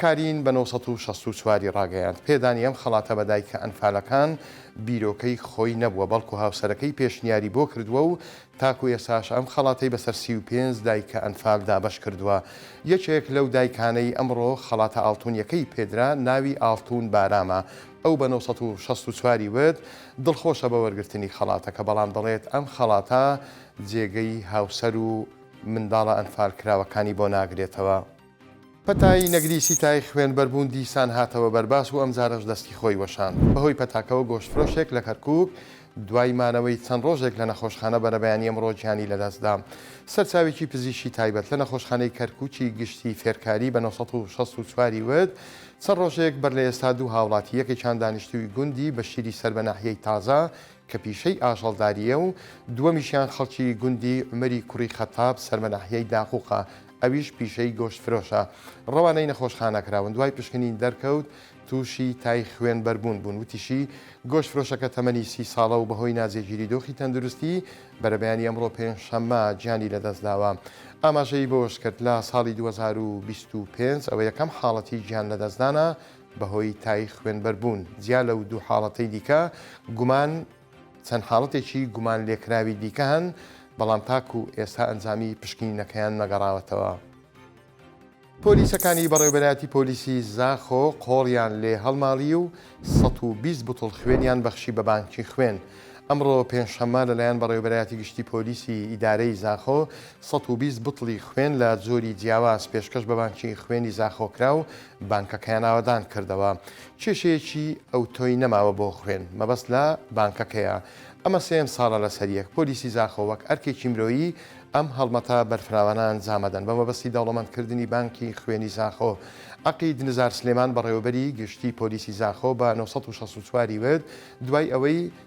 کارین بە نۆ سەد و شەست و چوار ی ڕاگەیاند، پێدانی ئەم خەڵاتە بە دایکە ئەنفالەکان بیرۆکەی خۆی نەبووە، بەڵکو هاوسەرەکەی پێشنیاری بۆ کردووە و تاکو ئێستاش ئەم خەڵاتەی بەسەر سی و پێنج دایکە ئەنفال دابەش کردووە، یەکێک لەو دایکانەی ئەمڕۆ خەڵاتە ئاڵتونیەکەی پێدرا ناوی ئاڵتون بارامە، ئەو بە نۆ سەد و شەست و چوار ی وت، دڵخۆشە بە وەرگرتنی خەڵاتەکە، بەڵام دەڵێت، ئەم خەڵاتە جێگەی هاوسەر و منداڵە ئەنفالکراوەکانی بۆ ناگرێتەوە. پەتای نەگریسی تای خوێنبەر بوون دیسان هاتەوە بەر باس و ئەمجارەش دەستی خۆی وەشاند. بەهۆی پەتاکەوە گۆشتفرۆشێک لە کەرکووک دوای مانەوەی چەند ڕۆژێک لە نەخۆشخانە بەرەبەیانی ئەمڕۆ گیانی لەدەستدا. سەرچاوێکی پزیشکی تایبەت لە نەخۆشخانەی کەرکووکی گشتی فێرکاری بە نۆ سەد و شەست و چوار ی وت، چەند ڕۆژێک بەر لە ئێستا دوو هاوڵاتی یەکێکیان دانیشتووی گوندی بەشیری سەر بە ناحیەی تازە کە پیشەی ئاژەڵدارییە و دووەمیشیان خەڵکی گوندی عومەری کوڕی خەتاب سەر بە ناحیەی داقووقە ئەویش پیشەی گۆشت فرۆشە، ڕەوانەی نەخۆشخانە کراون، دوای پشکنین دەرکەوت تووشی تای خوێن بەربوون بوون، وتیشی، گۆشت فرۆشەکە تەمەنی سی ساڵە و بەهۆی ناجێگیری دۆخی تەندروستی بەرەبەیانی ئەمڕۆ پێنجشەممە گیانی لەدەستداوە، ئاماژەی بەوەشکرد، لە ساڵی دوو هەزار و بیست و پێنج ەوە یەکەم حاڵەتی گیان لەدەستدانە بەهۆی تای خوێن بەربوون، جیا لەو دوو حاڵەتەی دیکە گومان. چەند حاڵەتێکی گومانلێکراوی دیکە هەن، بەڵام تاکو ئێستا ئەنجامی پشکنینەکەیان نەگەڕاوەتەوە. پۆلیسەکانی بەڕێوبەرایەتی پۆلیسی زاخۆ قۆڵیان لێ هەڵماڵی و سەد و بیست بوتڵ خوێنیان بەخشی بە بانکی خوێن. ئەمڕۆ پێنجشەممە لەلایەن بەڕێوبەرایەتی گشتی پۆلیسی ئیدارەی زاخۆ سەد و بیست بوتڵی خوێن لە جۆری جیاواز پێشکەش بە بانکی خوێنی زاخۆ کرا و بانکەکەیان ئاوەدان کردەوە. کێشەیەکی ئەوتۆی نەماوە بۆ خوێن مەبەست لە بانکەکەیە. ئەمە سێیەم ساڵە لەسەر یەک. پۆلیسی زاخۆ وەک ئەرکێکی مرۆیی ئەم هەڵمەتە بەرفراوانە ئەنجام ئەدەن بە مەبەستی دەوڵەمەندکردنی بانکی خوێنی زاخۆ. عەقید نزار سلێمان بەڕێوەبەری گشتی پۆلیسی زاخۆ بە نۆ سەد و شەست و چوار ی وت دوای ئەوەی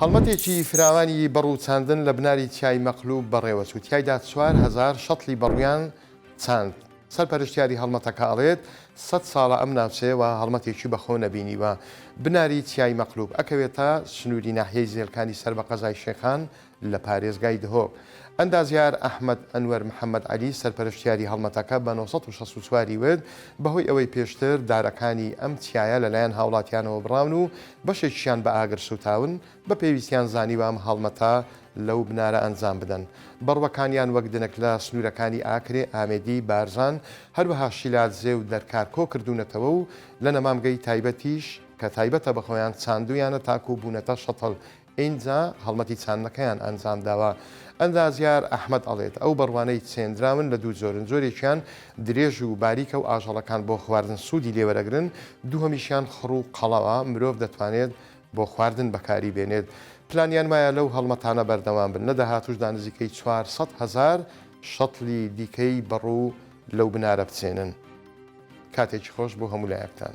هەڵمەتێکی فراوانی بەڕوو چاندن لە بناری چیای مەقلوب بەڕێوە چوو، تیایدا چوار هەزار شەتڵی بەڕوویان چاند. سەرپەرشتیاری هەڵمەتەکە ئەڵێت، سەد ساڵە ئەم ناوچەیە وەها هەڵمەتێکی بەخۆ نەبینیوە. بناری چیای مەقلوب ئەکەوێتە سنووری ناحیەی زێلکانی سەر بە قەزای شێخان لە پارێزگای دهۆک، ئەندازیار ئەحمەد ئەنوەر محەمەد عەلی، سەرپەرشتیاری هەڵمەتەکە بە نۆ سەد و شەست و چوار ی وت، بەهۆی ئەوەی پێشتر دارەکانی ئەم چیایە لەلایەن هاوڵاتیانەوە بڕاون و بەشێکیشیان بە ئاگر سووتاون، بە پێویستیان زانیوە ئەم هەڵمەتە لەو بنارە ئەنجام بدەن. بەڕوەکانیان وەک دنک لە سنوورەکانی ئاکرێ، ئامێدی، بارزان، هەروەها شیلادزێ و دەرکار کۆ کردوونەتەوە و لە نەمامگەی تایبەتیش کە تایبەتە بە خۆیان چاندوویانە تاکوو بوونەتە شەتڵ ئینجا هەڵمەتی چاندنەکەیان ئەنجام داوە. ئەندازیار ئەحمەد ئەڵێت، ئەو بەڕوانەی چێندراون لە دوو جۆرن، جۆرێکیان درێژ و باریکە و ئاژەڵەکان بۆ خواردن سوودی لێ وەرەگرن، دووهەمیشیان خڕ و قەڵەوە، مرۆڤ دەتوانێت بۆ خواردن بەکاری بێنێت. پلانیان وایە لەو هەڵمەتانە بەردەوام بن، لە داهاتووشدا نزیکەی چوار سەد هەزار شەتڵی دیکەی بەڕوو لەو بنارە بچێنن. کاتێکی خۆش بۆ هەموو لایەکتان.